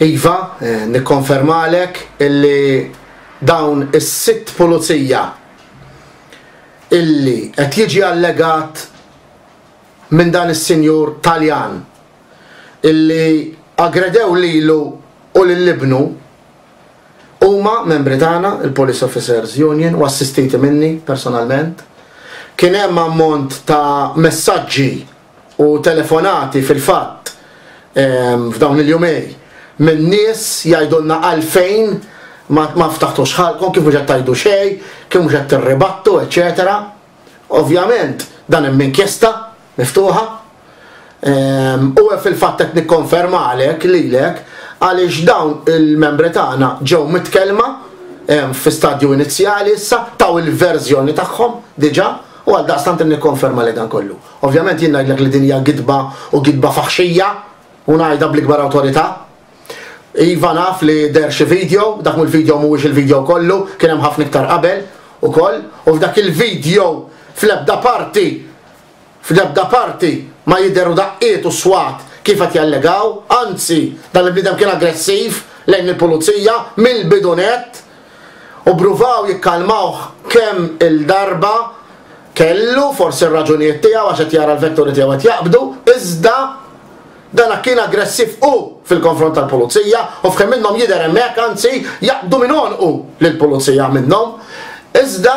Iva, nikkonfermalek illi dawn is-sitt pulizija illi qed jiġi allegat minn dan is-sinjur Taljan illi aggredew lilu u lil ibnu huma membri tagħna, il-Police Officers Union, u assistiti minni personalment. Kien hemm ammont ta' messaġġi u telefonati fil-fatt f'dawn il-jumej minn nies jgħidulna għalfejn ma ftaħtux ħalqkom, kif mhux qed tgħidu xejn, kif mhux qed tirribattu, eċċetera Ovvjament dan hemm inkjesta miftuħa u fil-fatt qed nikkonfermalek lilek għaliex dawn il-membri tagħna ġew mitkellma fi stadju inizjali issa, taw il-verżjoni tagħhom diġà u għaldaqstant nikkonfermalek dan kollu. Ovvjament jien ngħidlek li din hija gidba u gidba faħxija u ngħidha bl-ikbar awtorità. Iva naf li deher xi video, dak mhu l-video mhuwiex il-video kollu, kien hemm ħafna iktar qabel ukoll u f'dak il-video fl-ebda parti fl-ebda parti ma jidheru daqqiet u swat kif qed jallegaw, anzi dan il-bniedem kien aggressiv lejn il-pulizija mill-bidu nett u pruvaw jikkalmawh kemm-il darba. Kellu forsi r-raġunijiet tiegħu għax qed jara l-vetturi tiegħu qed jaqbdu, iżda dan kien aggressiv hu fil-konfront tal-Pulizija u f'kemm minnhom jidher hemm hekk, anzi jaqbdu minn għonqu lill-Pulizija minnhom. Iżda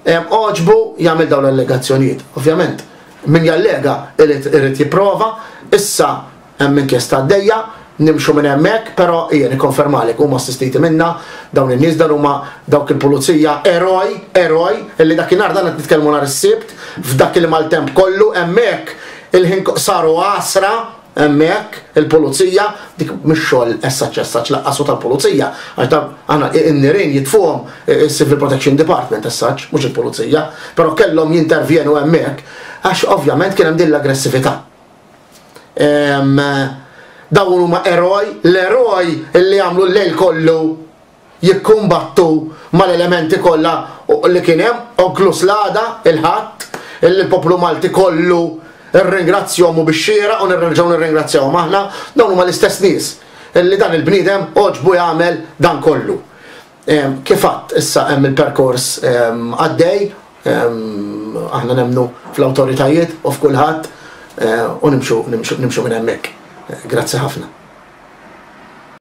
għoġbu jagħmel dawn l-allegazzjonijiet. Ovvjament, min jallega irid jipprova, issa Hemm inkjesta għaddejja, nimxu minn hemmhekk, però ejja nikkonfermalek, huma assistiti minna, dawn in-nies, dan huma dawk il-Pulizija eroj, eroj, li dakinhar, dan qed nitkellmu nhar is-Sibt, f'dak il-maltemp kollu, hemmhekk il-ħin saru għasra hemmhekk, il-Pulizija, dik mhux xogħol as-such-as-such lanqas u tal-Pulizija, għax dawn aħna n-nirien jitfuhom is-Civil Protection Department as such, mhux il-Pulizija, però kellhom jintervjenu hemmhekk għax ovvjament kien hemm din l-aggressività. Dawn huma eroj, l-eroj li għamlu l-lejl kollu jikkumbattu mal-elementi kollha li kien hemm, inkluż l-għada, il-Ħadd, li l-poplu Malti kollu rringrazzjahom u bix-xieraq u nerġgħu nirringrazzjahom aħna. Dawn huma l-istess nies li dan il-bniedem għoġbu jagħmel dan kollu. Kif għadt, issa hemm il-perkors għaddej, aħna nemmnu fl-awtoritajiet u f'kulħadd u nimxu minn hemmhekk. Grazzi ħafna.